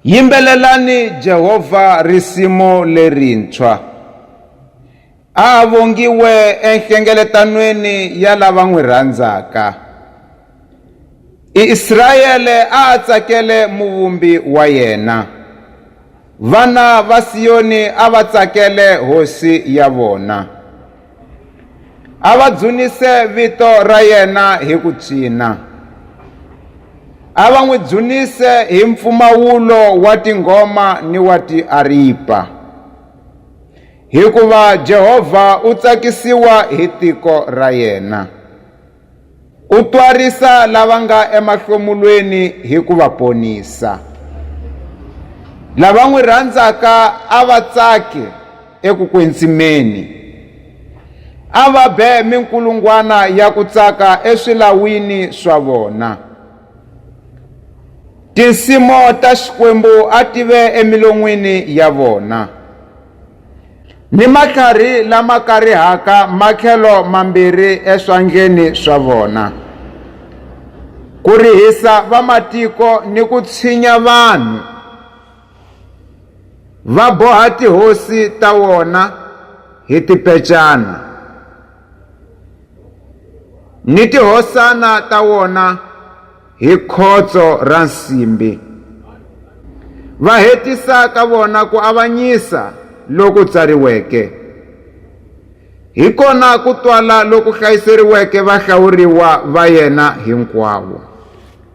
Yimbelelani Jehovha risimu lerintshwa. A a vongiwe enhlengeletanweni ya lava n'wi rhandzaka. Israyele a a tsakele Muvumbi wa yena. Vana va Siyoni a va tsakele Hosi ya vona. a va dzunise vito ra yena hi ku tswina a va n'wi dzunise hi mpfumawulo wa tinghoma ni wa tiaripa hikuva Jehovha u tsakisiwa hi tiko ra yena. U twarisa lava nga emahlomulweni hi ku va ponisa. Lava n'wi rhandzaka a va tsake eku kwetsimeni. A va be minkulungwana ya ku tsaka eswilawini swa vona. Tinsimo ta Xikwembu a ti ve emilon'wini ya vona. ni matlhari lama karihaka matlhelo mambirhi eswandleni swa vona ku rihisa vamatiko ni ku tshinya vanhu va boha tihosi ta wona hi tipecana ni tihosana ta wona hi khotso ra nsimbi, va hetisa ka vona ku avanyisa loku tsariweke. Hi kona ku twala loku hlayiseriweke vahlawuriwa va yena hinkwavo.